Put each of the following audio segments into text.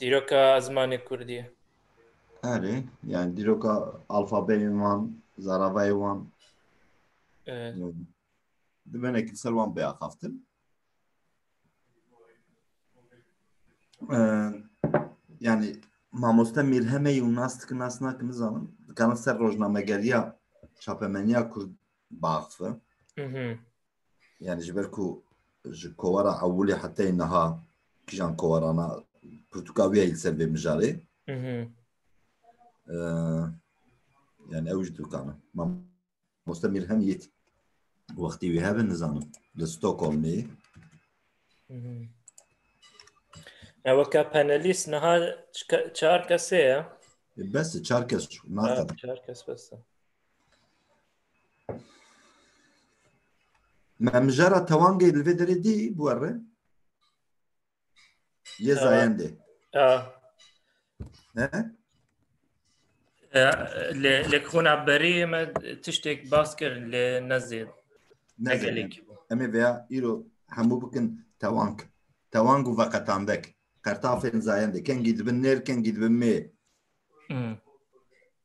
Dîroka zimanê Kurdî ye. Erê, yani dîroka alfabeyên wan, zaravayê wan. Evet. Dimene ki ser wan biaxaftin. Ee, yani mamoste Mirheme û nas dikin nas nakin nizanim. Dikarin ser rojnamegeriya çapemeniya Kurd biaxife. Hı hı. yani ji ber ku ji kovara ewilê heteyê niha kîjan kovarana pirtûka wî ye li ser vê mijarê yani ew ji dûkana mamoste mîr hem yêt wextî wî hebe nizanim li Stockholmê Eweka panelîst niha çar kesê ye bes çar kes çar kes bes Memjara tewangê li vê derê dî bû erre? Yê zayendê. Lê xona berî me tiştêk bas kir lê nezêd. Nezelêk. Em ê veya îro hemû bikin tewang. Tewang û veqetandek. Qertafên zayendê. Kengî dibin nêr, kengî dibin mêr.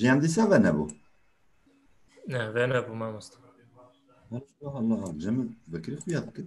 Jiyan dîsa ve nebû. Ne, ve nebû mamoste. Allah Allah. Cemil Bekirî xuya dikir.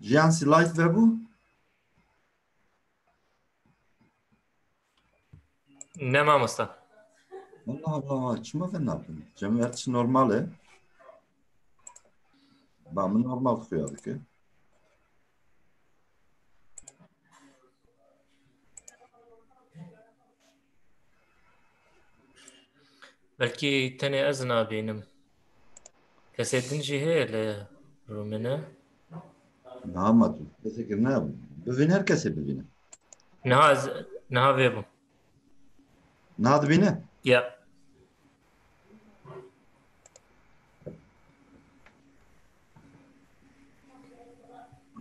Jiyan si live vebû? Ne mamosta. Allah Allah, çima vê napin? Cemiyet normal e. Ba min normal xuya dike. Belki tenê ez nabînim. Kesê din jî heye li Rumine. Niha ma tu kesekir ne bivîn her kesê bivîne. Niha ez niha vê bûm. Niha dibîne? Ya.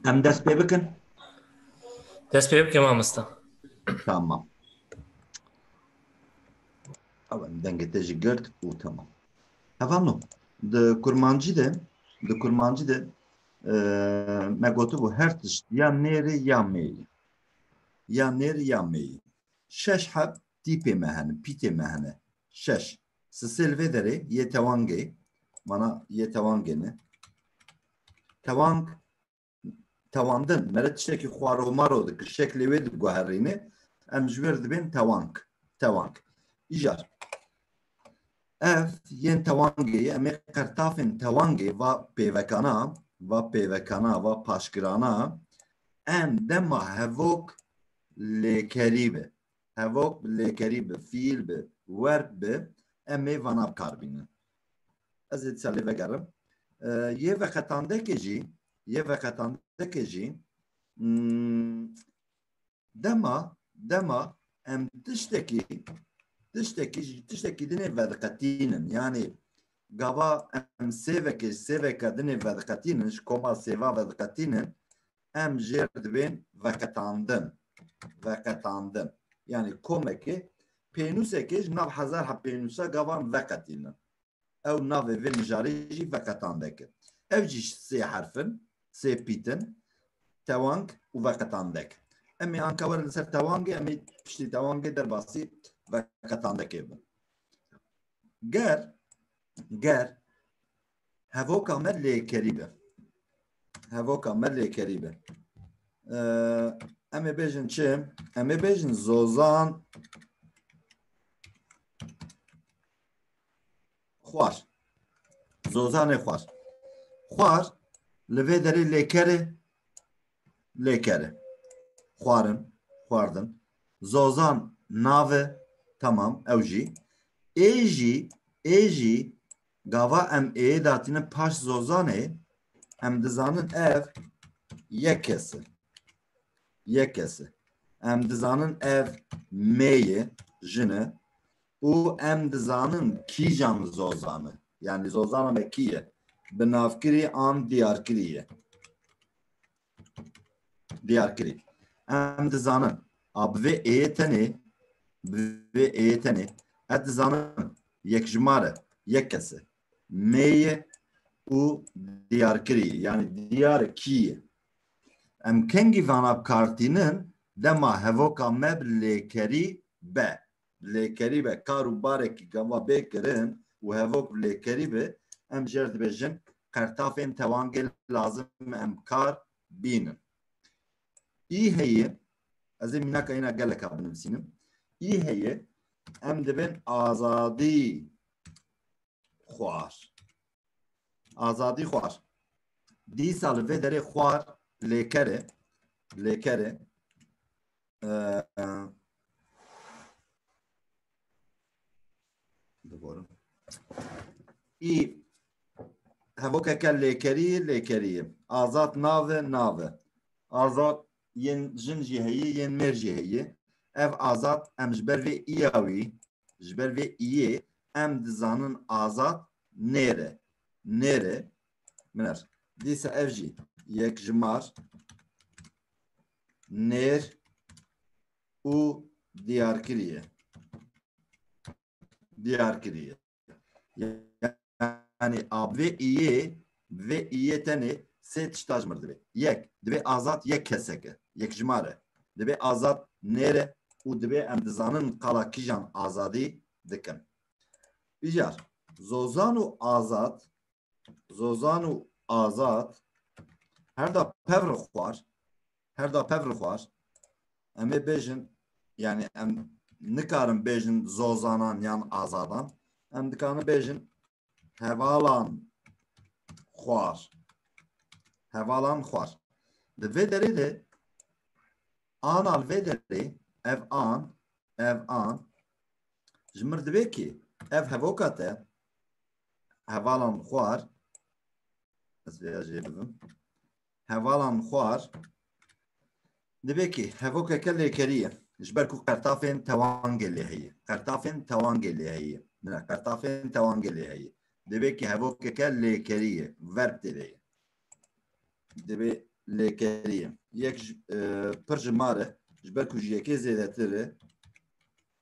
Em dest pê bikin? Dest pê bikin mamosta. Tamam. Ew em dengê te jî girt û tamam. Hevano, di kurmancî de, di kurmancî de e, me gotibû her tişt ya nêrê ya mêrê. Ya nêr ya mêyî. Şeş heb tîpê me hene, pîtê me hene. Şeş. Sisê li vê derê yê tewangê, mana yê tewangê ne. Tewang, tewandin, mere tiştekî xwaro maro dikir, şeklê wê diguherîne, em ji wê re dibên tewang, tewang. Îcar. Ev yên tewangê ye, em ê qertafên tewangê va pêvekana, va pêvekana, va paşgirana em dema hevok lêkerî bi, hevok bi lêkerî bi, fîl bi, werd bi, em ê vana bi kar bînin. Ez ê dîsa lê vegerim. Yê veqetandekê jî, yê veqetandekê jî Dema dema em tiştekî tiştekî ji tiştekî dinê vediqetînin yanê gava em sêvekê sêveka dinê vediqetînin ji koma sêva vediqetînin em jêr dibên veqetandin veqetandin yanê komekê pênûsekê ji nav hezar hepênûsa gavan veqetînin ew navê vê mijarê jî veqetan deke. Ev jî sê herf in, sê pît in, tewang û veqetan dek. Em ê anka werin li ser tewangê, em ê piştî tewangê derbasî veqetan dekê bin. Ger, ger hevoka me lêkerî be. Hevoka me lêkerî be. Em ê bêjin çi? Em ê bêjin zozan Xwar. Zozanê xwar. Xwar li vê derê lêkerê lêkere. Xwarin, xwardin. Zozan nave tamam ew jî. Ê jî, ê jî gava em ê datînin paş zozanê em dizanin ev yek kesi. Yek kesi. Em dizanin ev mêye, jine. û em dizanin kîjan zozan e. Yanî zozana me kî ye? Bi navkirî an diyarkirî ye. Diyarkirî. Em dizanin a bi vê êyê tenê bi vê êyê tenê ez dizanin yekjimar e, yek kes e. Mêyê û diyarkirî ye. Yanî diyar e kî ye. Em kengî vana bi kar tînin dema hevoka me bi lêkerî be. lêkerî be kar û barekî gava bê kirin û hevok bi lêkerî be em jê re dibêjin qertafên tewangê lazim e em kar bînin. Î heye ez ê mînaka îna geleka binivîsînim. Î heye em dibên azadî xwar. Azadî xwar. Dîsa li vê derê xwar lêker e. Lêker e. Diborim. Ê hevokeke lêkerî lêkerî ye. Azad nav e nav e. Azad yên jin jî heye yên mêr jî heye. Ev azad em ji ber vê îya wî Ji ber vê iyê em dizanin azad nêre. Nêre. Minar. Dîsa ev jî yek ji mar nêr û diyar kiriye. Diyar kiriye. Yanî a bi vê iyê bi vê iyê tenê sê tişta ji mir divê. Yek, divê azad yek kesek e, yekjimar e. Divê azad nêr e û divê em dizanin qala kîjan azadî dikin. Îcar, Zozan û Azad Zozan û Azad her da pevr xwar Her da pev li xwar em ê bêjin yani em nikarin bêjin zozanan yan azadan em dikarin bêjin hevalan xwar hevalan xwar di vê derê de ana li vê derê ev an ev an ji mir divê kî ev hevoka te hevalan xwar ez vê jê bibim hevalan xwar dibê kê hevokeke lêkerî ye ji ber ku qertafên tewangê lê heye qertafên tewangê lê heye bila qertafên tewangê lê heye dibê kê hevokeke lêkerî ye verb têde ye dibê lêkerî ye yek ji- e, pir ji mar e ji ber ku ji yekê zêdetir e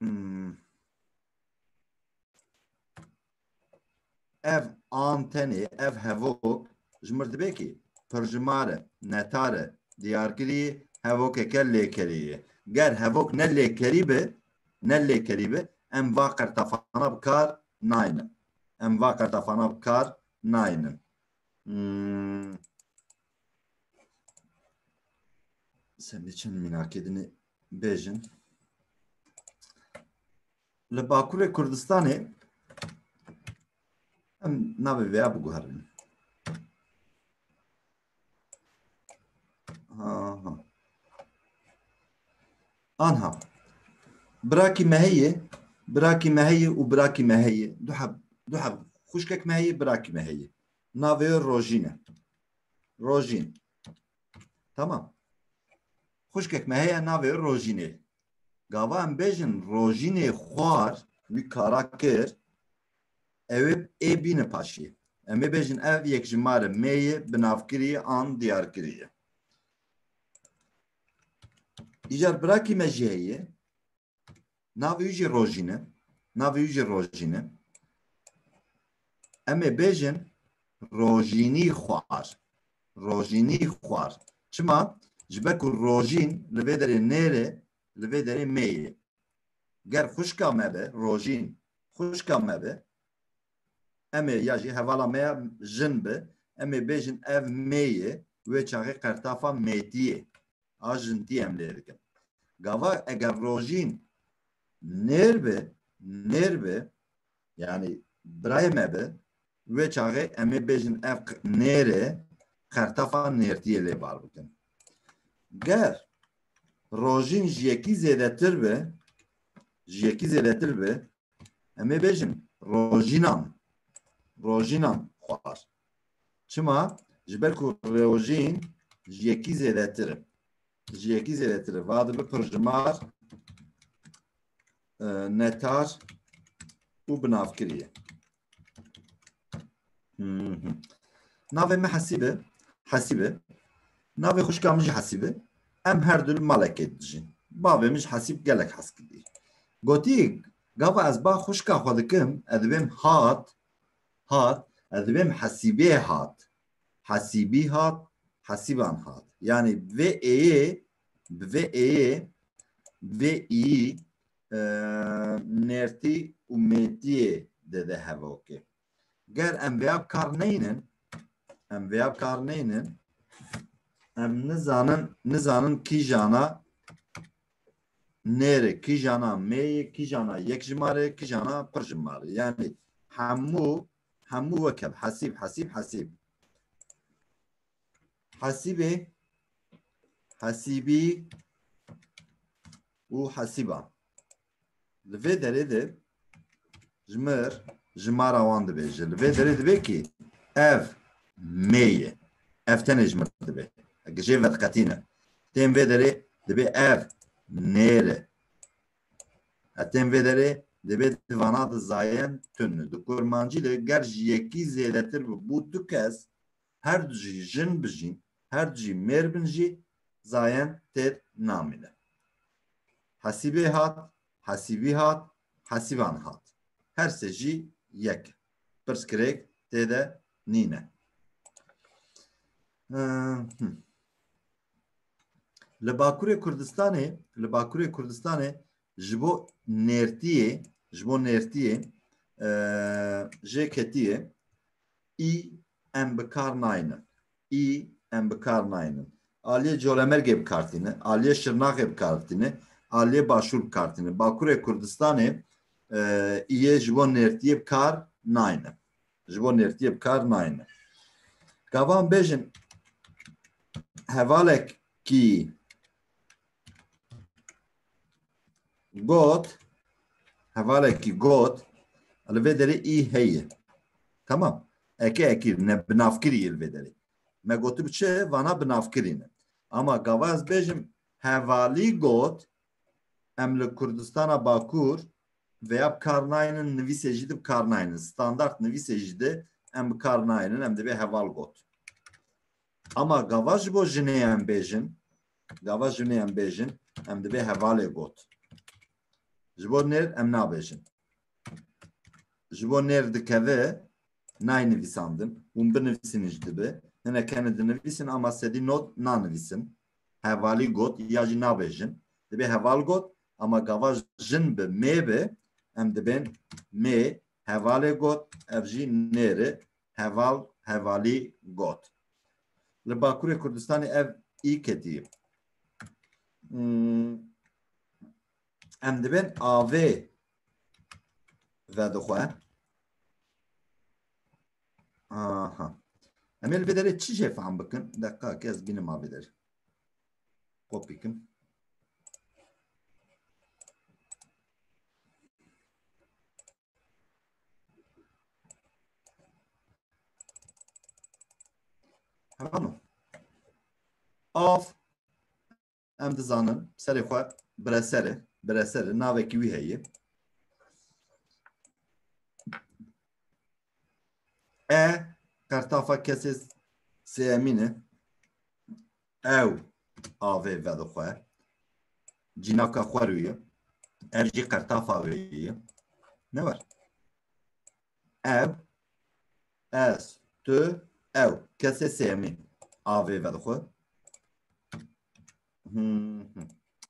Hmm. Ev antenê, ev hevok ji mirdibekê pirjimare, netare diyarkirî hevokeke lêkerî ye. Ger hevok ne lêkerî be, ne lêkerî be, em va qertafana bi kar naynin. Em va qertafana bi kar naynin. Hmm. Sen de çend mînakê dinê bêjin. Li Bakurê Kurdistanê em navê vêya biguherin. Anha. Birakî me heye, birakî me heye û birakî me heye. Du heb, du heb. Xuşkek me heye, birakî me heye. Navê Rojîn e. Rojîn. Tamam. Xuşkek me heye navê rojînê. Gava em bêjin rojînê xwar wî kara kir ew ê bîne paşî. Em ê bêjin ev yek ji mare mêyê binavkiriye an diyarkiriye. Îcar birakî me jî heye. Navê wî jî Rojîn e. Navê wî jî Rojîn e. Em ê bêjin rojînî xwar. Rojînî xwar. Çima? Ji ber ku rojîn li vê derê nêrê, li vê derê mêyê. Ger xwişka me be, rojîn xwişka me be, em ê ya jî hevala me ya jin be, em ê bêjin ev mêyê, wê çaxê qertafa mêtiyê. a jintî em lê dikin. Gava eger rojîn nêr bi, nêr bi yanî birayê me bi wê çaxê em ê bêjin ev nêrê qertefa nêrtiyê lê bar bikin. Ger rojîn ji yekî zêdetir bi, ji yekî zêdetir bi Em ê bêjin rojînan. Rojînan xwar. Çima? Ji ber ku rojîn ji yekî zêdetir e. Ji yekî zêdetir e. Va dibe pirjimar e, netar û binavkirî ye. Navê me Hesîbe Hesîbe navê xuşka min jî Hesîbe em her du li malekê dijîn bavê min ji Hesîb gelek hez kidî gotî gava ez ba xuşka xwe dikim ez dibêm hat hat ez dibêm Hesîbê hat Hesîbî hat Hesîban hat yanî vê êyê bi vê êyê vê îyî nertî û mêtiyê dide hevokê. Ger em vêya bi kar neynin, em vêya bi kar neynin, em nizanin, nizanin kîjana nêrê, kîjana mêyê, kîjana yek ji marê, kîjana pir ji marê. Yani hemû, hemû weke hesîb, hesîb, hesîb. Hesîbê, hesîbî û hesîban. Li vê derê de ji mir jimara wan dibe ji li vê derê dibe kî ev mê ye. Ev tenê ji mir dibe. Ege jê vediqetîne. Tên vê derê dibe ev nêr e. Tên vê derê dibe di vana di zayen tun. Di kurmancî de ger ji yekî zêdetir bi bû du kes her du jî jin bijîn, her du jî mêr bin jî zayen têr namîne. Hesîbê hat, hesîbî hat, hesîvan hat. Her sê jî yek e. Pirsgirêk tê de nîne. Li Bakurê Kurdistanê, li Bakurê Kurdistanê ji bo nêrtiyê, ji bo nêrtiyê jê ketiye î em bi kar naynin. Î em bi kar naynin. Aliyê Colemergê bi kar tîne, aliyê Şirnaxê bi kar tîne, aliyê Başûr bi kar tîne. Bakurê Kurdistanê îyê ji bo nêrtiyê bi kar naynin. Ji bo nêrtiyê bi kar naynin. Gavan bêjin hevalek ki got hevalekî got li vê derê î heye tamam eke ekî ne binavkirî li vê derê me gotim çi vana binavkirî ne ama gava ez bêjim hevalî got em li Kurdistana Bakur veya bi kar naynin nivîsê jî de bi kar naynin standart nivîsê jî de em bi kar naynin em divê heval got ama gava ji bo jinê em bêjin Gava jinê em bêjin, em dibê hevalê got. Ji bo nêr em nabêjin. Ji bo nêr dikevi nayê nivîsandin. Hûn binivîsînin ji dibi. Hine keni dinivîsin ama sedî not nanivîsin. Hevalî got ya jî nabêjin. Dibê heval got ama gava jin bi mê bi em dibên mê hevalê got ev jî nêri heval hevalî got. Li Bakurê Kurdistanê ev î ketî. Hmm. Em dibên avê vedixwe. Aha. Em ê li vê derê çi jê fehm bikin? Deqa ke ez bînim avê derê. Kopî kim. Tamam. Av em dizanin serê xwe biresere biresere navekî wî heye. E qertafa kesê sêyemîn e. Ew avê vedixwe. Cînaka xwe rû ye. Ev jî qertafa wê ye. Ne war. Ew, ez, tu, ew. Kesê sêyemî avê vedixwe. Hmm.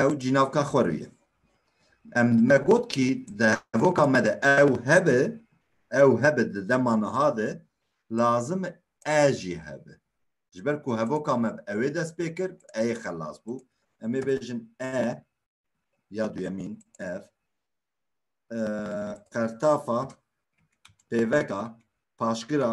ew cînavka xwe rû ye. Em me got kî di hevoka me de ew hebe, ew hebe di dema niha de lazim e jî hebe. Ji ber ku hevoka me ew ê dest pê kir, e yê xelas bû. Em ê bêjin e ya duyemîn ev qertafa pêveka paşgira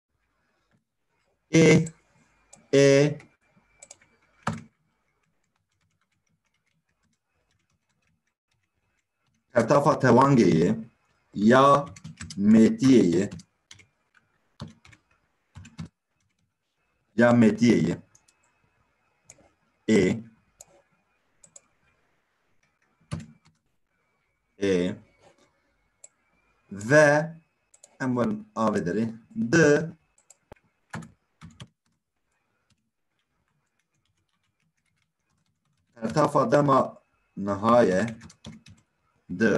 ê ê Ketafa tewangê yê ya mêtiyê yê ya mêtiyê yê ê ê ve em werin avê derê di Ertafa dema nihaye di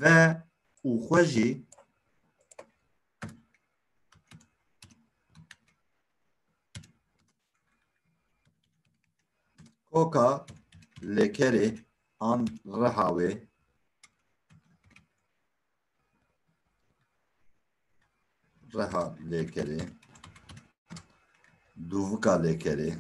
ve û xwe jî Koka lekerê an reha wê reha lêkerê dûvika lêkerê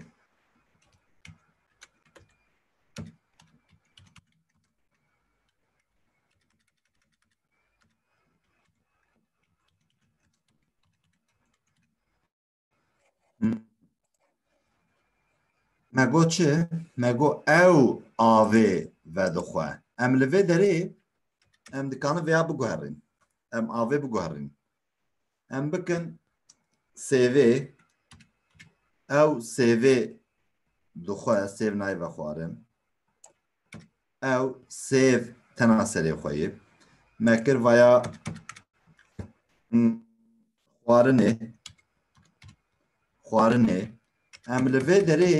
Me got çi? Me got ew avê vedixwe. Em li vê derê em dikanin vêya biguherîn. Em avê biguherîn. Em bikin CV ew CV dixwe, sêv nayê vexwarin. Ew sêv tena serê xwe yê. Me kir vaya xwarinê xwarinê em li vê derê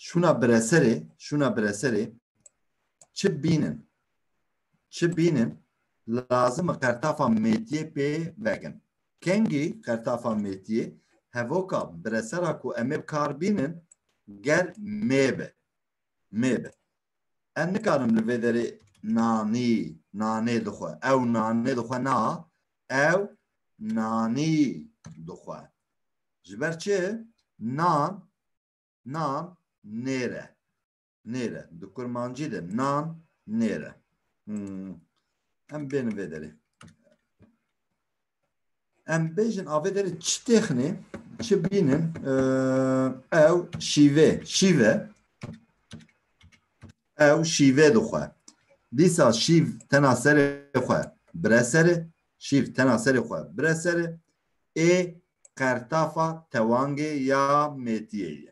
şûna bireserê şûna bireserê çi bînin çi bînin lazim e qertafa mêtiyê pê vegin kengî qertafa mêtiyê hevoka biresera ku em ê bi kar bînin ger mêbe mê be. Em nikarim li vê derê nanî nanê dixwe. Ew nanê dixwe na ew nanî dixwe. Ji ber çi nan nan nêre nêre di kurmancî de nan nêre. Hmm. Em bênin vê derê. Em bêjin avê derê çi têxinê, çi bînin ew şîvê, şîve ew şîvê dixwe. Dîsa şîv tena serê xwe bire serê, şîv tena serê xwe bire serê ê qertafa tewangê ya mêtiyê ye.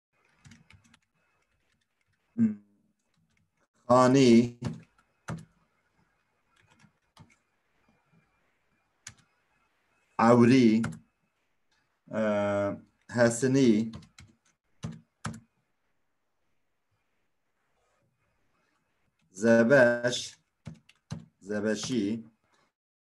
Xanî Ewrî Hesinî Zebeş Zebeşî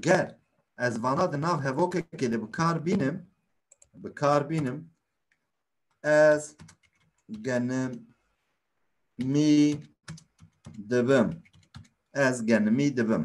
Ger ez vana di nav hevokekê de bikar bînim, bikar bînim ez genim mî dibim. Ez genimî dibim.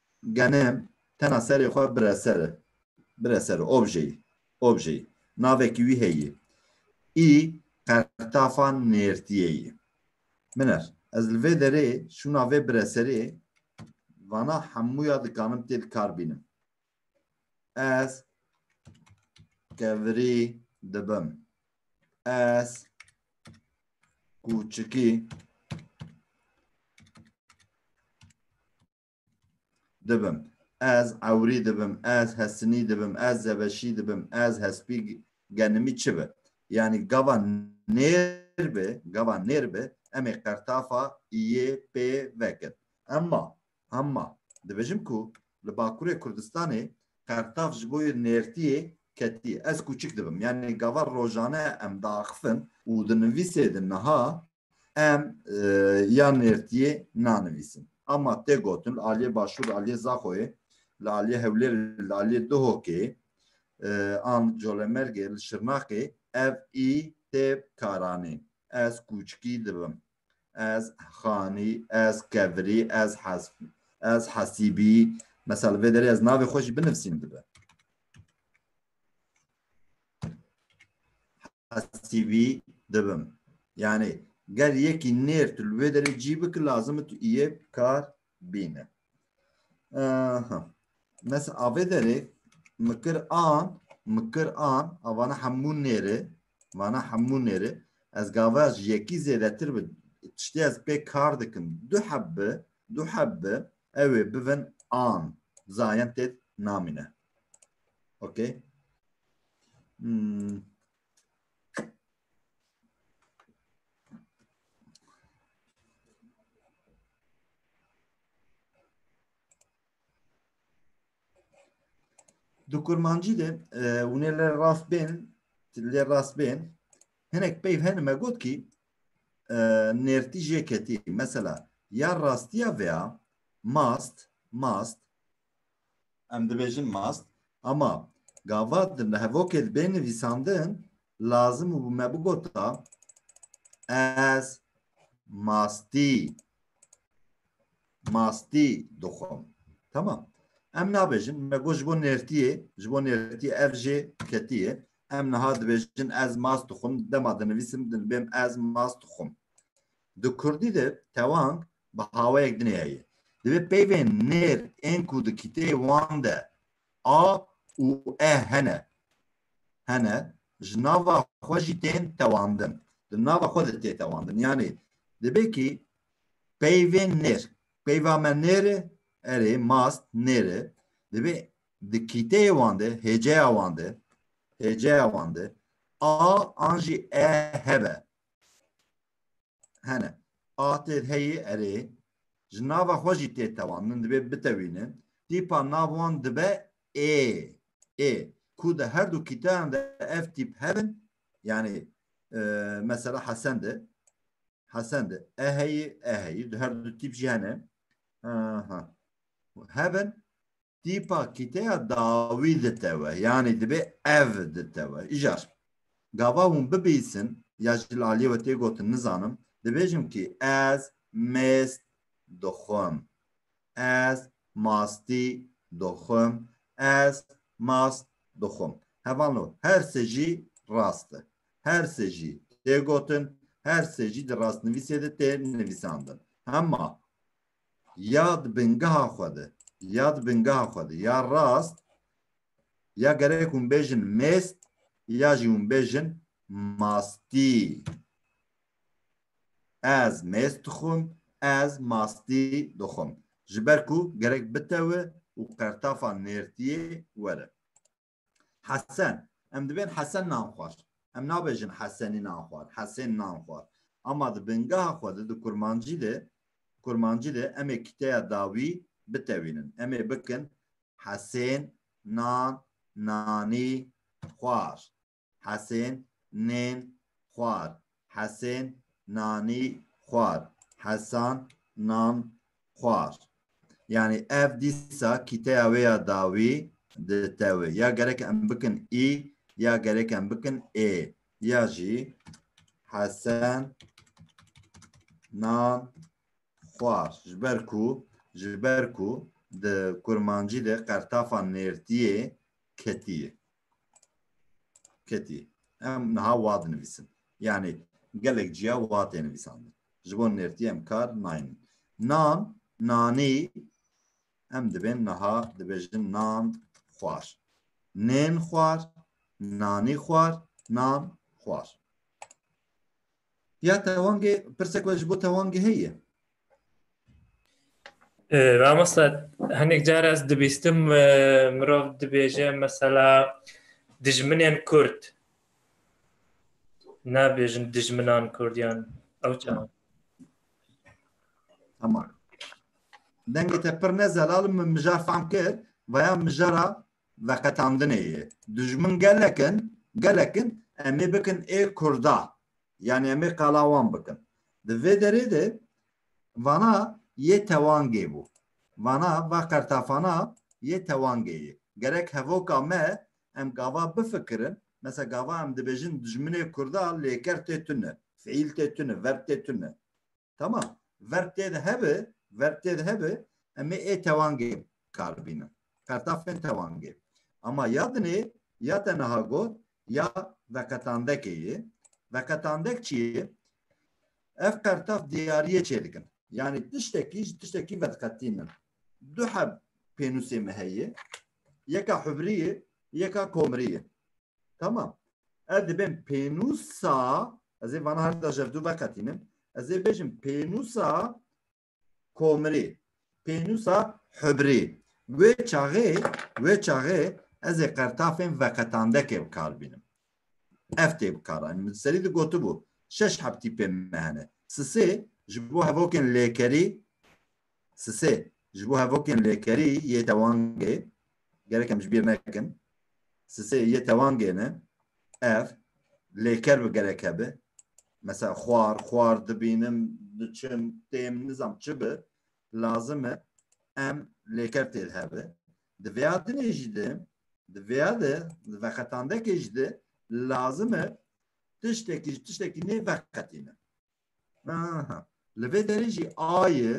Gene tena serê xwe bire ser e. Bire ser e. Objeyî. Objeyî. Navekî wî heyî. Î qertafa nêrtîyê yî. Min er. Ez li vê derê şûna vê bire serê vana hemû ya dikanim tê li kar bînim. Ez kevirî dibim. Ez kûçikî dibim, ez ewrî dibim, ez hesinî dibim, ez zebeşî dibim, ez hespî genimî çi bi. Yanî gava nêr bi, gava nêr bi emê qertafa yê pê vekin. Emma, emma dibêjim ku li Bakurê Kurdistanê qertaf ji bo yê nêrtiyê ketiyê. Ez kûçik dibim. Yanî gava rojane em diaxifin û di nivîsê de niha Em ya nêrtiyê nanivîsin. Ama tê gotin li aliyê Başûr, li aliyê Zaxoyê, li aliyê Hewlêrê, li aliyê Duhokê an li Colemergê, li Şirnexê ev î tê karanê. Ez kûçikî dibim. Ez xanî, ez kevirî, ez hesbî, ez hesîbî. Mesela li vê derê ez navê xwe jî binivîsîm dibe. CV dibim. Yani ger yekî nêr tu li wê derê cî bik lazim tu iyê kar bîne. Mes avê derê mi kir an mi kir an avana hemû nêrê vana hemû nêrê ez gava ji yekî zêdetir bi tiştê ez pê kar dikim du heb bi du heb bi ew ê bivin an zayen têt namîne. Ok. Hmm. Di kurmancî de e, hûn ê lê rast bên, lê rast bên. Hinek peyv hene me got kî e, nêrtî jê ketî. Mesela ya rastiya veya mast, mast Em dibêjin mast. Ama gava di hevokê de bê nivîsandin lazim û me bigota ez mastî mastî dixwim. Tamam. Em nabêjin me got ji bo nêrtiyê ji bo nêrtiyê ev jê ketiye. Em niha dibêjin ez mast dixwim dema dinivîsim dibêm ez mast dixwim. Di kurdî de tewang bi hawayek din heye. Divê peyvên nêr ên ku di kîteyê wan de a û e hene hene ji nava xwe jî tên tewandin. Di nava xwe de tê tewandin. Yanî divê kî peyvên nêr, peyva me nêr e, erê mast nêr e, divê di kîteyê wan de, hêceya wan de, hêceya wan de a an jî e hebe. hene. A tê heyê erê ji nava xwe jî tê tewandin divê bitewînin. Tîpa nav wan dibe ê. Ê ku di her du kîtayan de ev tîp hebin yanî mesela hesen de hesen de e heyê e heyê di her du tîp jî hene. Aha. Hebin Tîpa kîteya dawî ditewe yanî dibe ev ditewe. Îcar gava hûn bibîsin ya ji li aliyê we tê gotin nizanim dibêjim kî ez mêz dixwim. Ez mastî dixwim. Ez mast dixwim. Heval no her sê jî rast e. Her sê jî tê gotin, her sê jî di rastnivîsê de tê nivîsandin. Hema ya di bingeha xwe de, ya di bingeha xwe de, ya rast, ya gerek hûn bêjin mêst, ya jî hûn bêjin mastî. Ez mêst dixwim, ez mastî dixwim. Ji ber ku gerek bitewe û qertafa nêrtiyê were. Hesen, em dibên hesen nan xwar. Em nabêjin hesenî nan xwar, hesên nan xwar. Ama di bingeha xwe de di kurmancî de kurmancî de em ê kiteya dawî bitewînin. Em ê bikin hesên nan nanî xwar, hesên nên xwar, Hesên nanî xwar. Hesan nan xwar. Yanî ev dîsa kîteya wê ya dawî di tewê. Ya gerek em bikin î ya gerek em bikin ê. Ya jî Hesen nan xwar. Ji ber ku ji ber ku di kurmancî de qertafa nêrtiyê ketiyê. Ketî. Em niha wat nivîsin. Yanî gelek ciya wat ê nivîsandin. Ji bo nêrtî em kar naynin. Nan, nanî em dibên niha dibêjin nan xwar. Nên xwar, nanî xwar, nan xwar. Ya tewangê pirsek we ji bo tewangê heye. Ramosta hinek car ez dibîstim mirov dibêje mesela dijminên Kurd nabêjin dijminan Kurdiyan ew çawa Tamam. Dengê te pir ne zelal min mija fam kir veya mijara veqetandinê ye. Dijmin gelek in, gelek in em ê bikin ê Kurda. Yanî em ê qala wan bikin. Di vê derê de vana yê tewangê bû. Vana va qertafana yê tewangê ye. Gerek hevoka me em gava bifikirin, mesela gava em dibêjin dijminê Kurda lêker tê tune, fiîl tê tune, verb tê tune. Tamam. Verb tê de hebe, verb tê de hebe, em ê ê tewangê kar bînin. Qertafên tewangê. Ama ya dinê, ya te niha got, ya veqetandekê ye. Veqetandek çi ye? Ev qertaf diyariyê çê dikin. Yani tiştekî ji tiştekî vedqetînin. Du heb pênûsê me heye. Yeka hubriyê, yeka komriyê. Tamam. Ez dibên pênûsa ez ê vana her da jevdû veqetînim. Ez ê bêjim pênûsa komirê, pênûsa hibrê. Wê çaxê, wê çaxê ez ê qertafên veqetandekê bi kar bînim. Ev tê bi kar anî. Min serî di gotibû şeş hebtî pê me hene. Sisê ji bo hevokên lêkerî Sisê, ji bo hevokên lêkerî yê tewangê gerek em ji bîr nekin, sisê yê tewangê ne, ev lêker bi gerek hebe, mesela xwar, xwar dibînim, diçim, têm, nizam çi bi, lazim e em lêker tê de hebe. Di vêya dinê jî de, di vêya de, di veqetandekê jî de lazim e tiştekî ji tiştekî nê veqetîne. Aha. Li vê derê jî ayê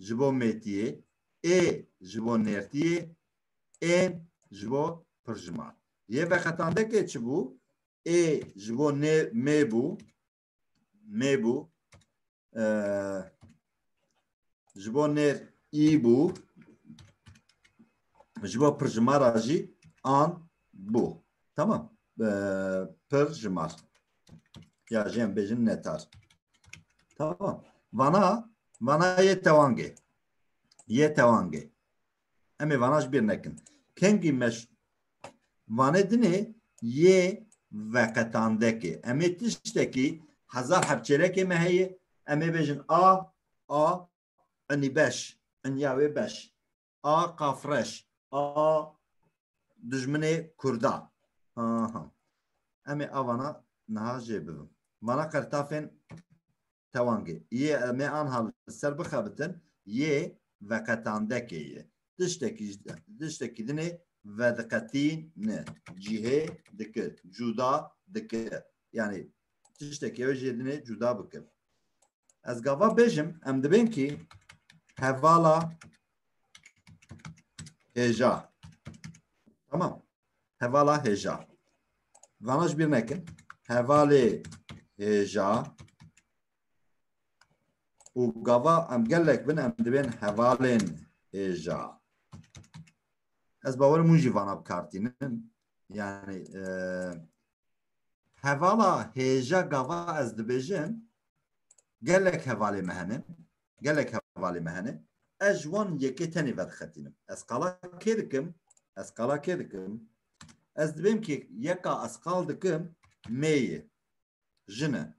ji bo mêtiyê, ê ji bo nêrtiyê, ên ji bo pirjiman. Yê veqetandekê çi bû? Ê ji bo nê mê bû, mê bû. ji bo nêr î bû ji bo pirjimara jî an bû tamam pirjimar ya jê em bêjin netar tamam vana vana yê tewangê yê tewangê Em ê vana ji bîr nekin. Kengî me ji vanê dinê yê veqetandekê. Em ê tiştekî hezar hevçêrekê me heye em ê bêjin a a inî beş inya wê beş a qafreş a dijminê kurda aha em ê avana niha jê bibim. Vana qertafên tewangê. Yê me anha li ser bixebitin yê veqetandekê ye. Tiştekî ji tiştekî din ê vediqetîne, cihê dike, cuda dike. Yanî tiştekî ew ê jê din ê cuda bike. Ez gava bêjim em dibên kî hevala hêja. Tamam. Hevala hêja. Vana ji bîr nekin. Hevalê hêja û gava em gelek bin em dibên hevalên hêja. Ez bawerim hûn jî vana bikartînin. Yani e, hevala hêja gava ez dibêjin gelek hevalê me hene. Gelek hevalê me hene. Ez ji wan yekê tenê vedixetînim. Ez qala kê dikim? Ez qala kê dikim? Ez dibêm ki yeka ez qal dikim mêyê, jin e.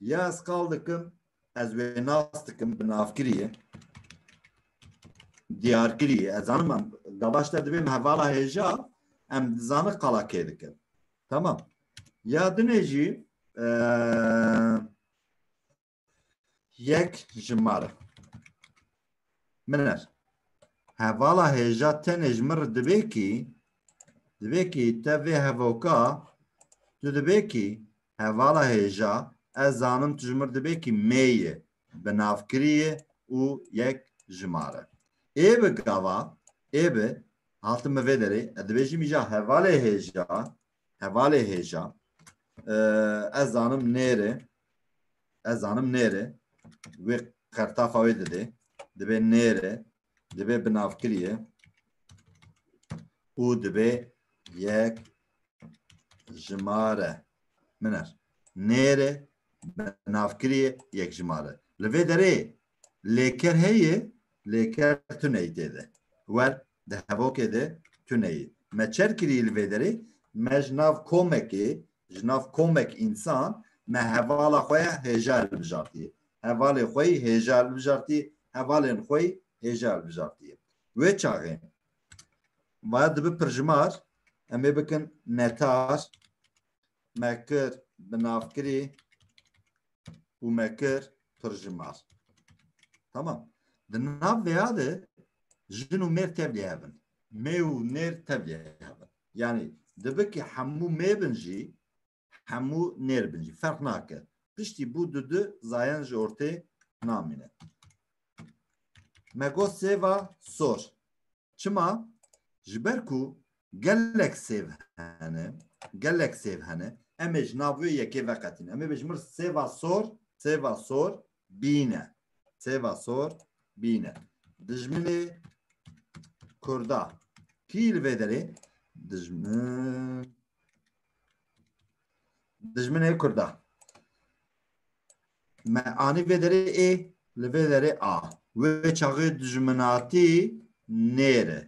Ya ez qal dikim ez wê nas dikim bi navkiriyê. Diyarkiriyê. Ez zanim em gavaş te dibêm hevala hêja em dizanin qala kê dikim. Tamam. Ya dinê jî Yek ji ma re. Min er. Hevala hêja tenê ji min re divê kî divê kî te vê hevoka tu divê kî hevala hêja ez zanim tu ji min re divê kî mêyê bi navkiriyê û yek ji ma re. Ê bi gava ê bi hatim bi vê derê ez dibêjim îja hevalê hêja hevalê hêja ez zanim nêrê ez zanim nêrê wê qertafa wê didê dibê nêrê dibê binavkiriye û dibê yek jimare min er nêrê binavkiriye yek jimare li vê derê lêker heye lêker tuneyê tê de wer Di hevokê de tune yê. Me çer kirî li vê derê, me ji nav komekê, ji nav komek însan, me hevala xwe ya hêja hilbijartiye. Hevalê xwe yî hêja hilbijartiye, hevalên xwe yî hêja hilbijartiye. Wê çaxê vaya dibi pirjimar, em ê bikin netar, me kir, bi nav kirî, û me kir pir ji mal. Tamam. Di nav vêya de jin û mêr tevlî hevin. Mê û nêr tevlî hevin. Yanî dibikî hemû mê bin jî hemû nêr bin jî ferq nake. Piştî bû du du zayan ji ortê namîne. Me got sêva sor. Çima? Ji ber ku Gelek sêv hene, gelek sêv hene. Em ê ji nav wê yekê veqetîn. Em ê bêjin mir sêva sor, sêva sor bîne. Sêva sor bîne. Dijminê Kurda. Kî li vê derê? Dijmin dijminê kurda. Me anî vê derê ê li vê derê a. Wê çaxê dijminatî nêre.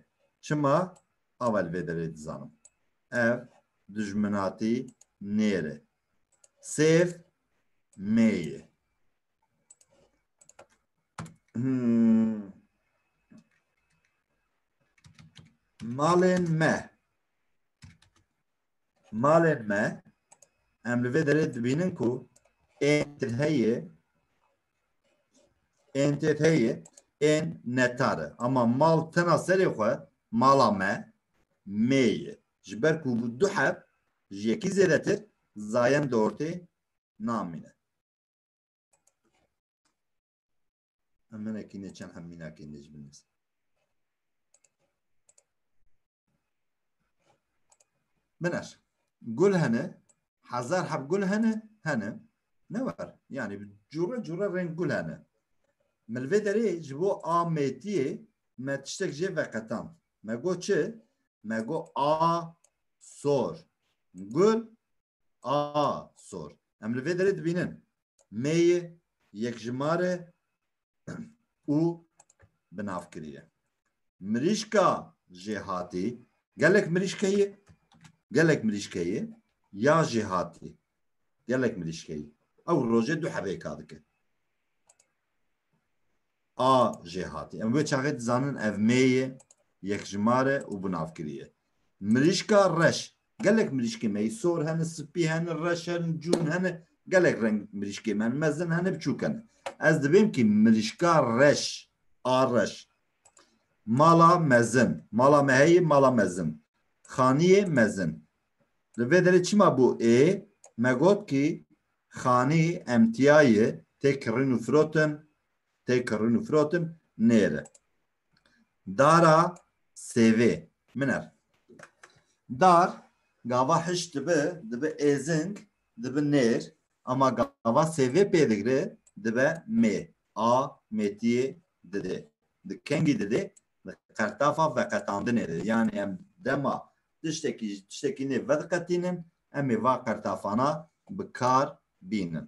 Çima ava li vê derê dizanim. Ev dijminatî nêre. Sêv mêye. Hmm. Malên me malên me em li vê derê dibînin ku ên heye ên têt heye ên netar e ama mal tena serê xwe mala me mê ye ji ber ku bi du heb ji yekî zêdetir zayend di ortê namîne emenekî neçen hemînakî necbin Min er. Gul hene, hezar heb gul hene, hene. Ne var. Yani cure cure reng gul hene. Milvê derê ji bo ametiyê me tiştek jê veqetan. Me go çi? Me go a sor. Gul a sor. Em li vê derê dibînin. Mêyê, yekjimare, û binav kiriye. Mirîşka jêhatî gelek mirîşkeyê gelek mirîşkeyê ya jêhatî gelek mirîşkeyê ew rojê du herêka dike. A jêhatî em wê çaxê dizanin ev mêyê yekjimare û binavkiriye. Mirîşka reş Gelek mirîşkê me yê sor hene, spî hene, reş hene, cûn hene, gelek reng mirîşkê me hene, mezin hene, biçûk hene. Ez divêm kî mirîşka reş, a reş, mala mezin, mala me heye mala mezin, xaniyê mezin. Li vê derê çima bû ê, me got kî xanî emtiyayê tê kirîn û firotin, tê kirîn û firotin nêre. Dara sêvê min er. Dar gava hiş dibi, dibi êzing, dibi nêr ama gava sêvê pê digre dibe mê. A mêtiyê didê. Di kengî didê di qertafa veqetandinê de. Yanî em dema tiştekî ji tiştekî nê vediqetînin em ê va qertafana bi kar bînin.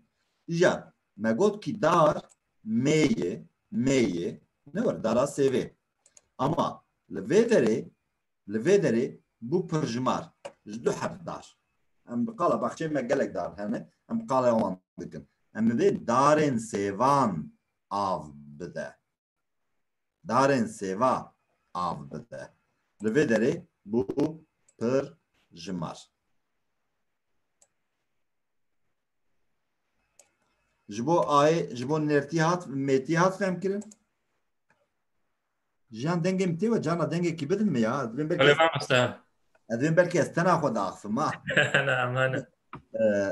Îja me got kî dar meyê, meyê, ne were dara sêvê. Ama li vê derê, li vê derê bû pirjimar, ji du herf dar. Em bi qala baxçeyên me gelek dar hene, em bi qala wan dikin. Em ê darên sêvan av bide. Darên sêva av bide. Li vê derê bû pirjimar. Ji bo ayê, ji bo nertî hat, mêtî hat fehmkirin. Jiyan dengê min tê we cana dengekî bidin min ya. Ez dibên belkî Elê ez- mamoste. ez dibên belkî ez tena xwe diaxivim ha. Ne emane.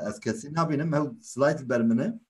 Ez kesî nabînim hew slayt li ber min e.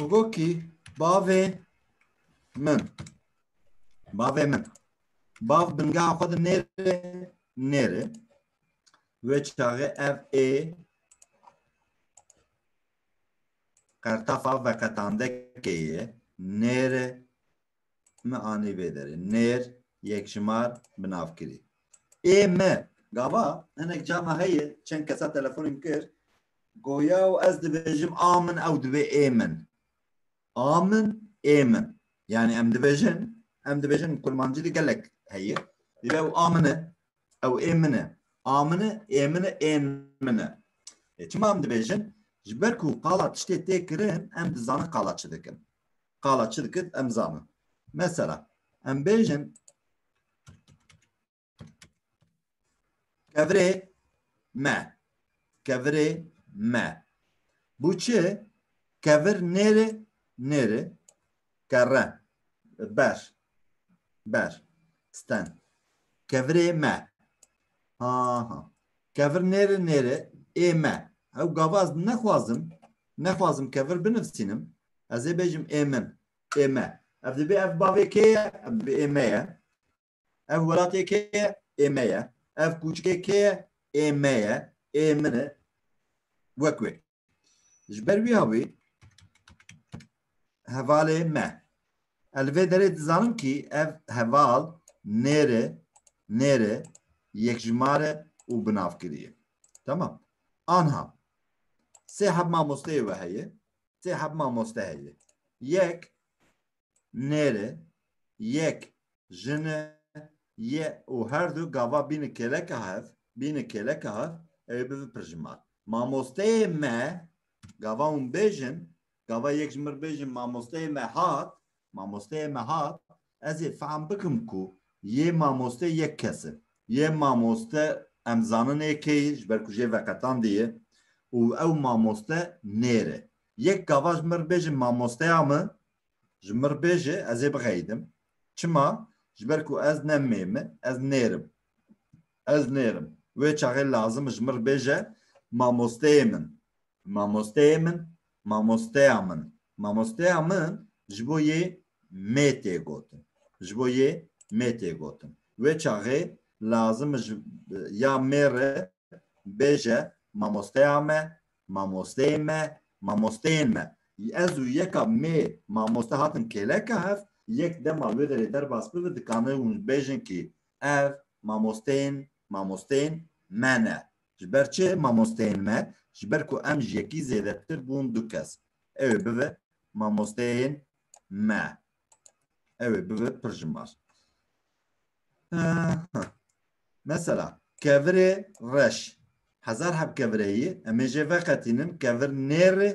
Hugoki bavê min. Bavê min. Bav binga xwe di nêrê nêrê. Wê çaxê ev ê Qertafa veqetandekê yê nêrê mi anî vê derê. Nêr yekjimar bi nav kirî. Ê mi gava hinek cama heye çend kesa telefonê min kir goya û ez dibêjim a min ew dibê ê min. A min ê min. Yanî em dibêjin em dibêjin kurmancî de gelek heye. Dîre ew a min e. Ew ê min e. A min e, ê min e, ên min e. Lê çima em dibêjin? Ji ber ku qala tiştê tê kirin em dizanin qala çi dikin. Qala çi dikit em zanin. Mesela em bêjin kevirê me. Kevirê me. Bu çi? Kevir nêrê nêrê kere ber ber sten kevirê me ha ha kevir nêri nêri ê me ew gava ez nexwazim nexwazim kevir binivîsînim ez ê bêjim ê min ê me ev dibê ev bavê kê ye ev dibê ê me ye ev welatê kê ye ê me ye ev kûçikê kê ye ê me ye ê min e wek wê Ji ber wî havî hevalê me. Ez li vê derê dizanim kî ev heval nêre nêre yekjimare û binavkiriye. Tamam. Anha sê heb mamosteyê we heye. Sê heb mamoste heye. Yek nêrê, yek jine ye û her du gava bîne kêleka hev, bîne kêleka hev ewê bibe pirjimal. Mamosteyê me gava hûn bêjin, gava yek ji mir bêjin mamosteyê me hat, mamosteyê me hat, ez ê fehm bikim ku yê mamoste yek kes e. Yê mamoste em zanin ê kê ye ji ber ku jê veqetandî ye û ew mamoste nêr e. Yek gava ji mir bêjin mamosteya min Ji mir bêje ez ê bixeyidim. Çima? Ji ber ku ez ne mêm im, ez nêrim. Ez nêrim. Wê çaxê lazim ji mir bêje mamosteyê min. Mamosteyê min, mamosteya min. Mamosteya min ji bo yê mê tê gotin. Ji bo yê mê tê gotin. Wê çaxê lazim ji ya mêr re bêje mamosteya me, mamosteyên me, mamosteyên me. Ez û yeka mê mamoste hatin kêleka hev, yek dema wê derê derbas bibe dikane hûn bêjin kî ev mamosteyên mamosteyên me ne. Ji ber çi mamosteyên me? Ji ber ku em ji yekî zêdetir bûn du kes. Ew ê bibe mamosteyên me. Evet, bibe pir ji mar. Mesela, kevirê reş. Hezar heb kevireyî, em ê jê veqetînin kevir nêrê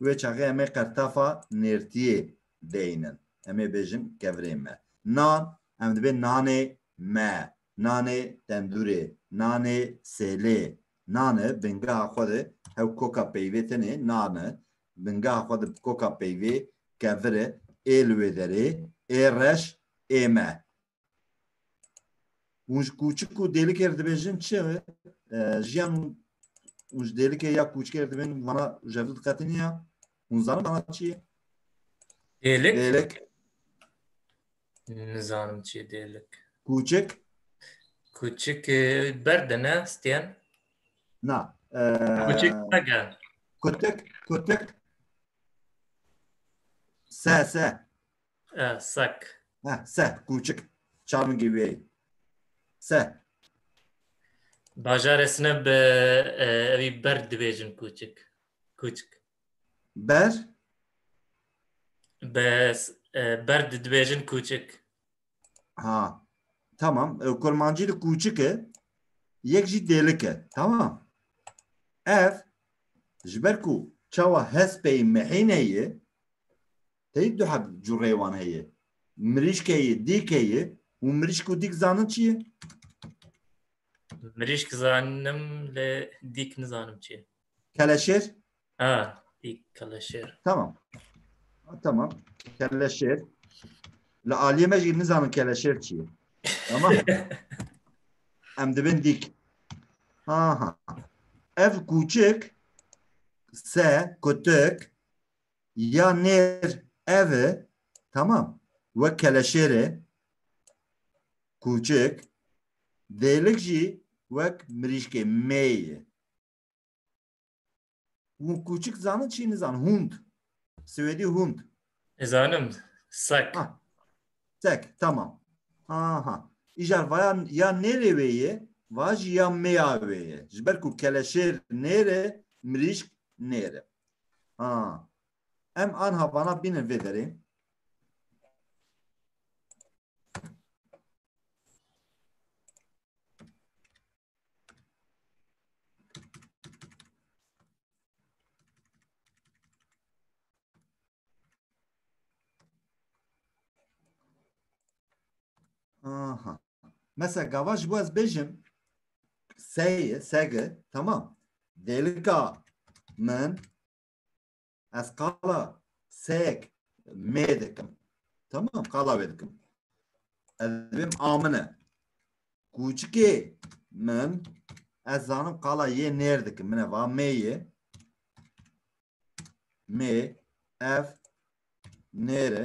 wê çaxê em ê qertafa nêrtiyê deynin. Em ê bêjin kevirê me. Nan, em dibê nanê me, nanê tendûrê, nanê sêlê. Nan e, bingeha xwe de hew koka peyvê tenê nan e. bingeha xwe di koka peyvê, keviri, ê li wê derê, ê reş, ê me. Hûn ji kûçik û dêlikê re dibêjin çi jiyan û hûn ji dêlikê ya kûçikê re dibêjin vana jevdu diqetiniya hûn zanin vana çi ye? Dêlik. Dêlik. Nizanim çi dêlik. Kûçik? Kûçik e, berde ne stêyan? Na. Kûçik e, nege. Kutik, kutik. Se, se. E, sak. Ha, se, kûçik. Çarmingî wê. Se. Bajarê sine bi e, evî berd dibêjin kûçik. Kûçik. Ber? Bes ber dibêjin kûçik. Ha. Tamam. E, kurmancî li kûçik e. Yek jî dêlik e. Tamam. Ev ji ber ku çawa hespeyî mehîne ye teyî du heb cureyê wan heye. Mirîşke ye, dîke ye û mirîşk û dîk zanin çi ye? Mirîşk zanim lê dîk nizanim çi ye. Keleşêr? Ha, ê keleşêr. Tamam. Ha, tamam. Keleşêr. Li aliyê me jî nizanin keleşêr çi ye. Tamam. Em dibin dîk. Ha ha. Ev kûçik se kutik ya nêr ev e. Tamam. Wek keleşêr e. Kûçik. Dêlik jî wek mirîşkê mê ye. Hûn kûçik zanin çî nizanin. Hûnd. Swêdî hûnd. Zanim. Sek. Ha. Sek. Tamam. Aha. Îcar vaya ya nêrê wê ye va jî ya mêya wê ye. Ji ber ku keleşêr nêre mirîşk nêre. Ha. Em anha vana bînin vê derê. Aha. Mesela gava ji bo ez bêjim seye, sege tamam. Dêlika min Ez qala sek mê dikim. Tamam qala wê dikim. Ez dibim amine. Kûçikê min ez zanim qala yê nêr dikim. Mine va mê yê. Mê ev nêre.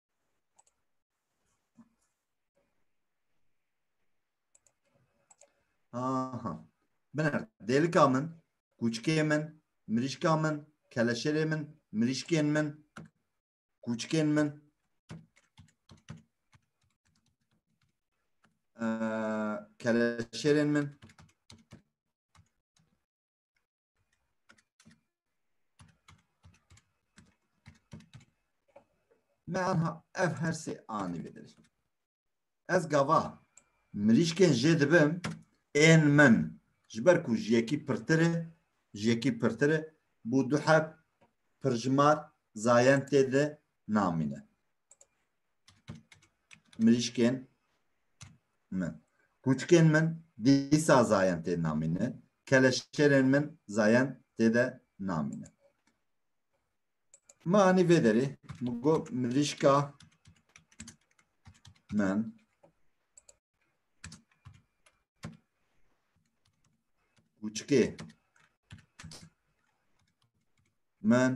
Aha. Binêr. Dêlika min, kûçikê min, mirîşka min, keleşerê min, mirîşkên min, kûçikên min. Ee, keleşerên min. Me anha ev her sê anî bidir. Ez gava mirîşkên jê dibim ên min ji ber ku ji yekî pirtir e ji yekî pirtir e bû du heb pirjimar zayentê de namîne. mirîşkên min. Kûçikên min dîsa zayen tê namînin, keleşêrên min zayen tê de namînin. Ma anî vê derê min got mirîşka min kûçikê min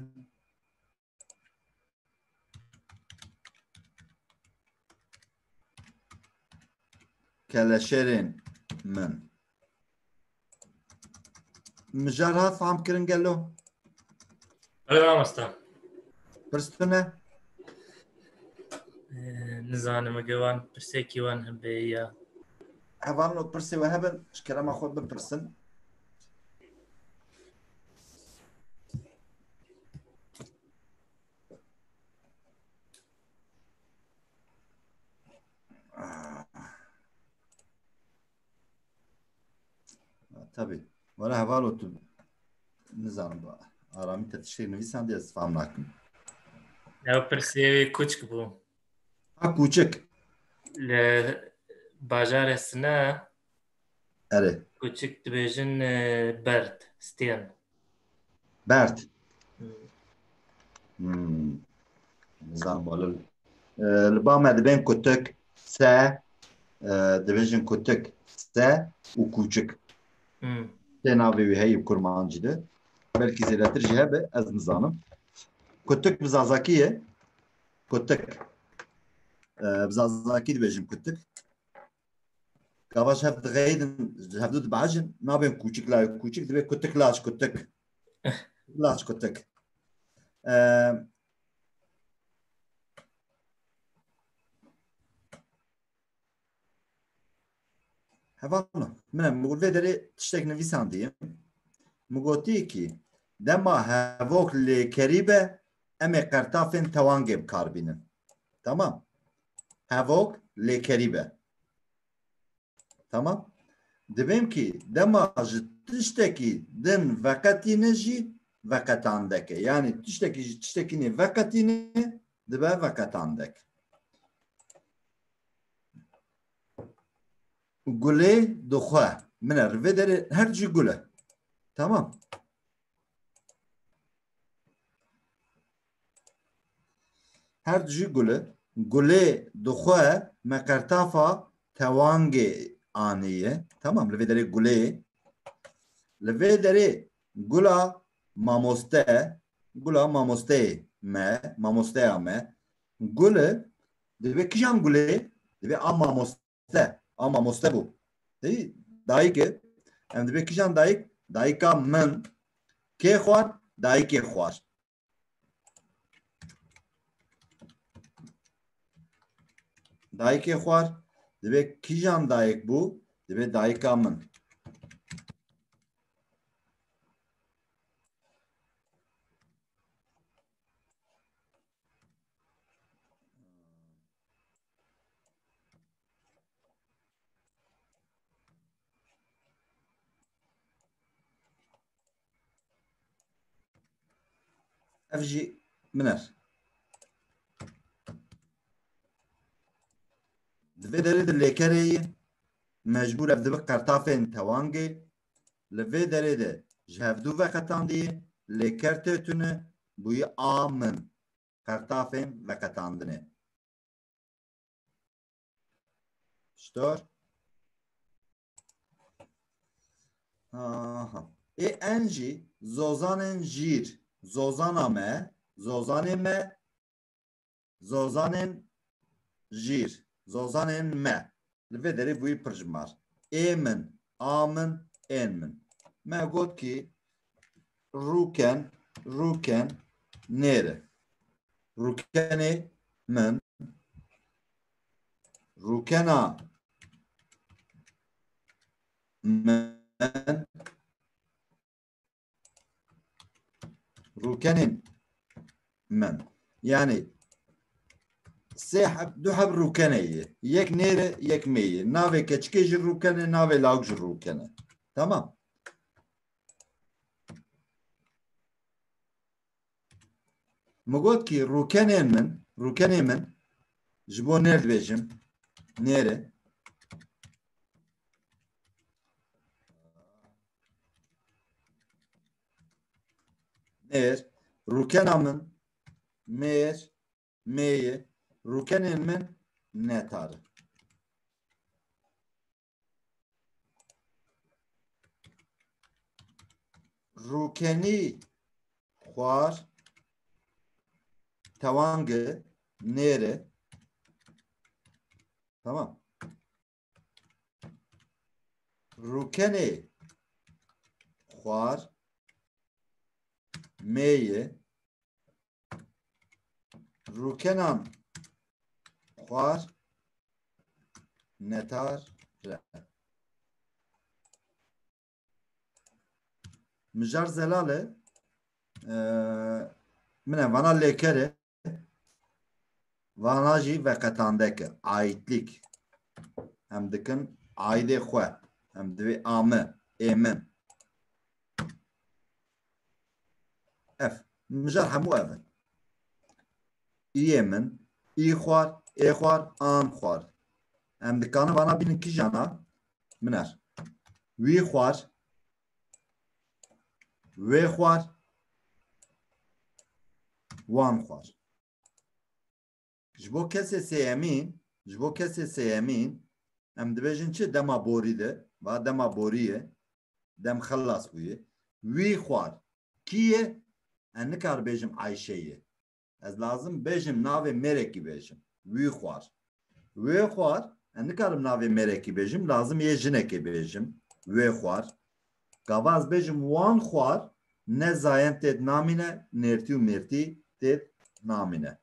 keleşerên min. Mijar hat fam kirin gelo? Bele mamosta. Pirstune? Nizanim ege wan pirsekî wan hebe ya. Hevan û pirsê we hebin ji kerema xwe bipirsin. Tabii. Bana heval otur. Nizanim bu. Arami tetişe nivîsan diye ez fam nakim. Ew pirsê wê kûçk bû. Ha kûçik. Li bajarê Sina Erê. Kuçik dibêjin e, berd, stên. Berd. Hmm. Nizam bolu. E, Li ba me dibên kutik, se, e, dibêjin kutik, se û kûçik. Hmm. Tê navê wî heyî kurmancî de. Belkî zêdetir jî hebe, ez nizanim. Kutik bi zazakî ye. Kutik. E, bi zazakî dibêjin kutik. Gava ji hev diğeydin, ji hev du dibehecin, nabên kûçik lay kûçik divê kutik laç kutik. Laç kutik. Hevan min em gul vê derê tiştek nivîsandiye. Min gotî kî dema hevok lêkerî be em ê qertafên tewangê bikar bînin. Tamam. hevok lêkerî be. Tamam. Dibêm kî dema ji tiştekî din veqetîne jî veqetandeke. Yani tiştekî ji tiştekî nê veqetîne dibe veqetandek. Gulê dixwe. Min er vê derê her cî gule. Tamam. Her di jî gule. Gulê di xwe me qertafa tewangê aniye. Tamam li vê derê gulê ye. Li vê derê gula mamoste, gula mamosteyê me, mamosteya me. Gule divê kijan gulê? Divê a mamoste, a mamoste bû. Hî dayike, em divê kijan dayik? Dayika min kê xwar? Dayikê xwar. Dayikê xwar divê kîjan dayik bû? Divê dayika min. Ev jî min er. Di vê derê de lêkerê yê mecbûr ev dibi qertafên tewangê li vê derê de ji hevdû veqetandiyê lêker tê tune bûyî a min qertafên veqetandinê. Stor. Aha. Ê en jî zozanên jîr, zozana me, zozanê me, zozanên jîr, zozanên me. Li vê derê bûyî pirjimar. Ê min, a min, ên min. Me got kî rûken, rûken nêre. Rûkenê min, rûkena min rûkenên min yani sê heb du heb rûkene ye yek nêre yek mê ye navê keçikê ji rûkene navê lawik ji rûkene tamam Min got kî rûkenên min, rûkenê min ji bo nêr dibêjim. Nêre. Nêr. Rûkena min mêr, mêye. Rûkenên min netar in. Rûkenî xwar tewangê nêrê tamam rûkenê xwar mêyê rûkenan xwar netar re. Mijar Zelale min e vana lêkere vana jî veqetandeke aîtlik em dikin aîdê xwe em divê ame êmin Ev. Mijar hemû ev in. Îyê min, î xwar, ê xwar, an xwar. Em dikanin vana bînin kîjana? Min er. Wî xwar, wê xwar, wan xwar. Ji bo kesê sêyemîn, ji bo kesê sêyemîn em dibêjin çi dema borî de, va dema borî ye, dem xelas bûye. Wî xwar. Kî ye? Ez nikar bêjim Ayşe ye. Ez lazim bêjim navê mêrekî bêjim. Wî xwar. Wê xwar, ez nikarim navê mêrekî bêjim, lazim yê jinekê bêjim. Wê xwar. Gava ez bêjim wan xwar ne zayen têd namîne nêrtî û mêrtî têd namîne.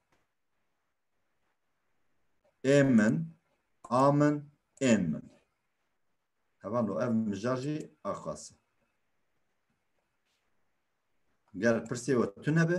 Ê min, a min, ên min. Heval o ev mijar jî aqas e. Ger pirsê we tune be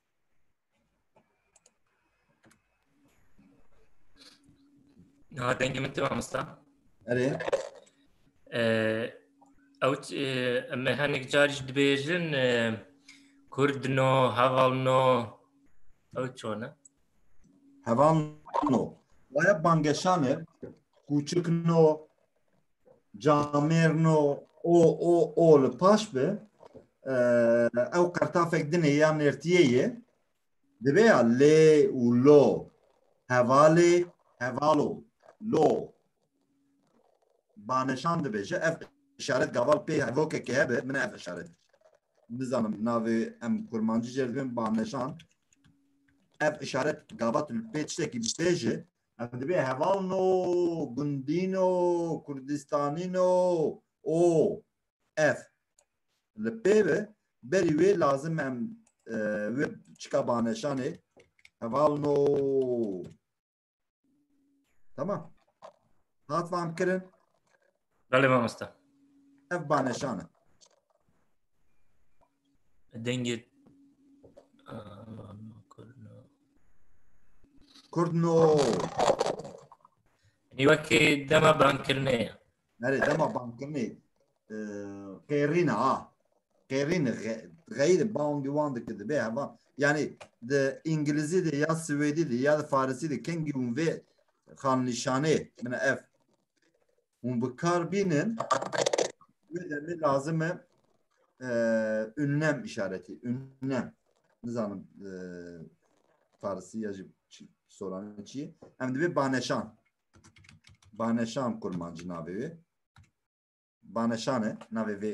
Ha dengê min tu mamosta. Erê. Ew em ê hinek car jî dibêjin kurd no, heval no. Ew çon e? Heval no. Waya bangeşan e. Kûçik no, camêrno o o o li paş bi ew qertafek dinê ya nêrtiyê ye divê ya lê û lo hevalê hevalo lo baneşan dibêje ev işaret gaval pê hevokekê hebe min ev işaret nizanim navê em kurmancî jê dibên baneşan ev işaret gavat pê tiştekî bibêje Em dibê heval no, gundî no, kurdistanî no û ev. Li pê bi berî wê lazim em e, wê çika baneşanê heval no. Tamam. Hat vam kirin. Belê mamosta. Ev baneşan e. Dengê Kurdno. Nî wekê dema bankirinê ye. Nerê dema bankirinê qêrîn ha. Qêrîn xeyr bawn diwan dike dibe heva. Yani de İngilizce de ya Swedi de ya da Farisi de kengi un ve xan nişane mine ev Hûn bi kar bînin wê demê lazim e ünlem işaretî. Ünlem. Nizanim e, Farsî ya jî soranê çi ye. Em divê baneşan. Baneşan kurmancî navê wê. Baneşan e navê vê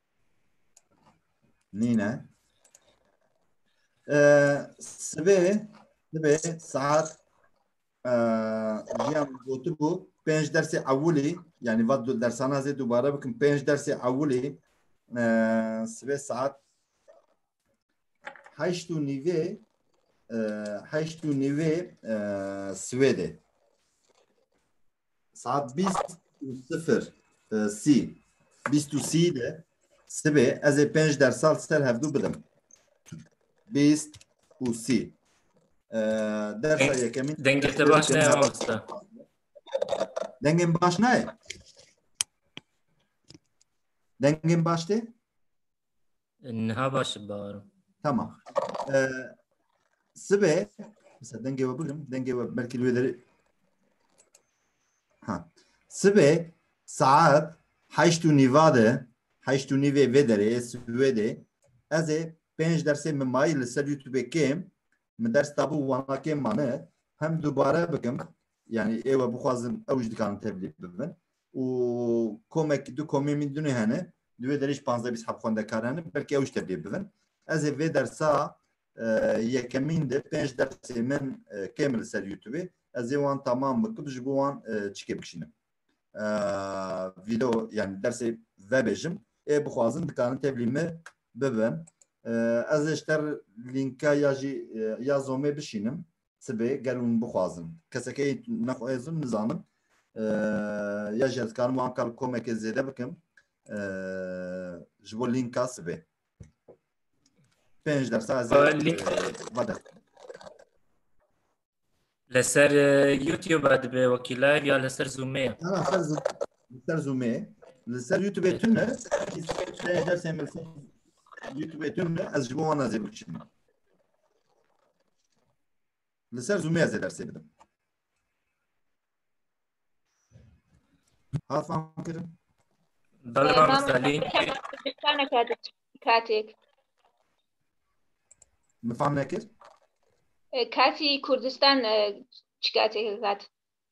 Nîne. Sibê dibê saat jiyan gotibû pênc dersê ewilî yanî vat dersana zê dubare bikim pênc dersê ewilî sibê saat Heşt û nîvê e, heşt û nîvê e, Swêdê. Saat bîst û sifir e, sî. Bîst û sî de sibê ez ê pênc dersal ser hevdû bidim. Bîst û sî. E, Dersa yekemîn Dengê te baş ne ama usta. dengên baş nayê. Dengên baş tê? Niha baş baro. Tamam. Ee, sibe mesela denge ve bugün denge ve belki üyeleri ha. Sibe saat haştu nivade haştu nive vedere svede ez ê pênc dersê min mayî li ser YouTube kêm min ders tabû wana kêm mane hem dubare bikim yani êwe bixwazin ew ji dikarin tevlî bibin û komek du komê min dunê hene di wê derê jî panzdeh bîst heb xwendekar hene belkî ew jî tevlî bibin. Ez ê vê dersa yekemîn de pênc dersê min kêm li ser youtubê ez ê wan tamam bikim ji bo wan çikê bikişînim vîdeo yanî dersê vebêjim ê bixwazin dikarin tevlî min bibin. Ez ê ji te lînka ya jî ya zomê bişînim Sibê gel hûn bixwazin kesekê nexwezin nizanim ya jî ez karim wan kal komekê zêde bikim ji bo lînka sibê pênc dersa ez vede li ser youtube dibe wekî live ya li ser zoomê li ser zoomê li ser youtubê tun e dersê min youtubê tun e ez ji bo wan ez ê bikişînim Li ser Zoomê ez ê dersê bidim. Hat fam kirin? Belê mam bi Selîm. Kurdistana katik. Katik. Min fam nekir? Kati Kurdistan e, çi katik kat?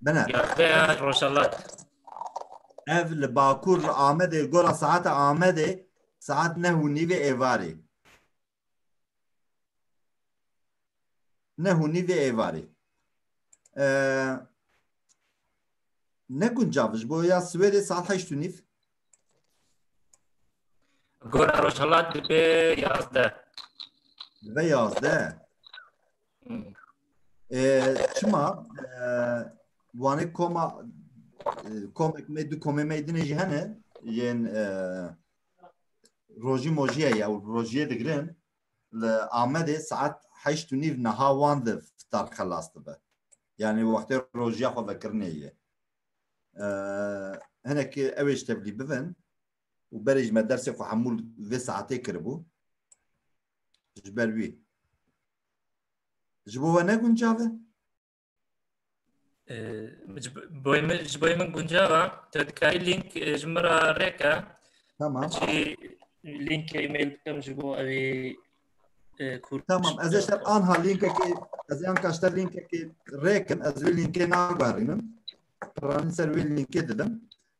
Bine. Yardeya Rojalat. Ev li Bakur li Amedê gora saeta Amedê saet neh û nîvê êvarê. Neh û nîvê êvarê. Ne guncav ji bo ya Swêdê saet heşt û nîv. Gora Rojalat dibe yazdeh. Dibe yazdeh. Çima wanê koma komek me du komê me dinê jî hene yên rojî mojîye ya û rojîyê digirin li Amedê saet heşt û nîv niha wan li fitar xelas dibe. Yani wextê rojîya xwe vekirinê ye. Hinekî ew ê ji tevlî bibin û berê ji me dersê xwe hemû vê saetê kiribû. Ji ber wî. Ji bo we ne guncav e? Ji bo min guncav e. Tu dikarî link ji min re rêke. Tamam. Çi link e-mail bikim ji bo ew ê kur. Tamam. Ez ê ser anha linkekê ez ê anka ji te linkekê rêkim. Ez wê linkê naguherînim. Piranî ser wê linkê didim.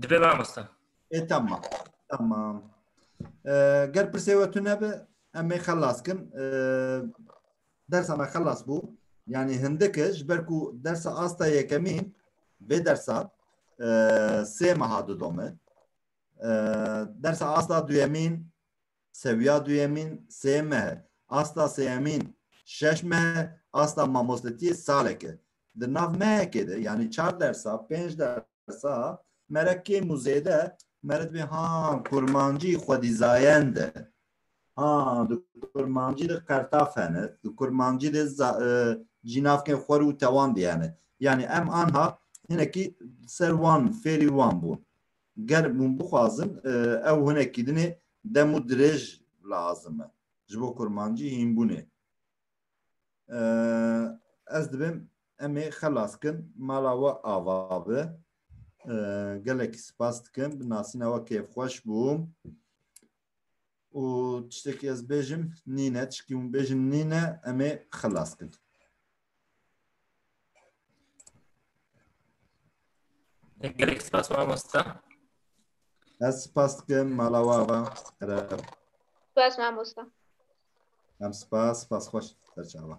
Dibe mamosta. E tamam. Tamam. Ger pirsê we tu nebe em ê xelas kin. Dersa me xelas bû. Yani hindike ji ber ku dersa asta yekemîn vê dersa sê meha didome. Dersa asta duyemîn sewiya duyemîn sê mehe. Asta sêyemîn şeş mehe. Asta mamostetiyê saleke. Di nav mehekê de yanî çar dersa, pênc dersa me re kêm û zêde me re dibê ha kurmancî xwedîzayend e. Ha di kurmancî de qertaf hene, di kurmancî de cînavkên xwer û tewan dî hene. Yanî em anha hinekî ser wan fêrî wan bûn. Ger hûn bixwazin ew hinekî dinê dem û dirêj lazim e ji bo kurmancî hînbûnê. Ez dibim em ê xelas kin mala we ava bi. Gelekî spas dikim bi nasîna we kêfxweş bûm. û tiştekî ez bêjim nîne tişkî hûn bêjin nîne em ê xelas kin. Gerek spas mamosta. Ez spas dikim mala wava. Ereb. Spas mamosta. Em spas, spas xweş serçava.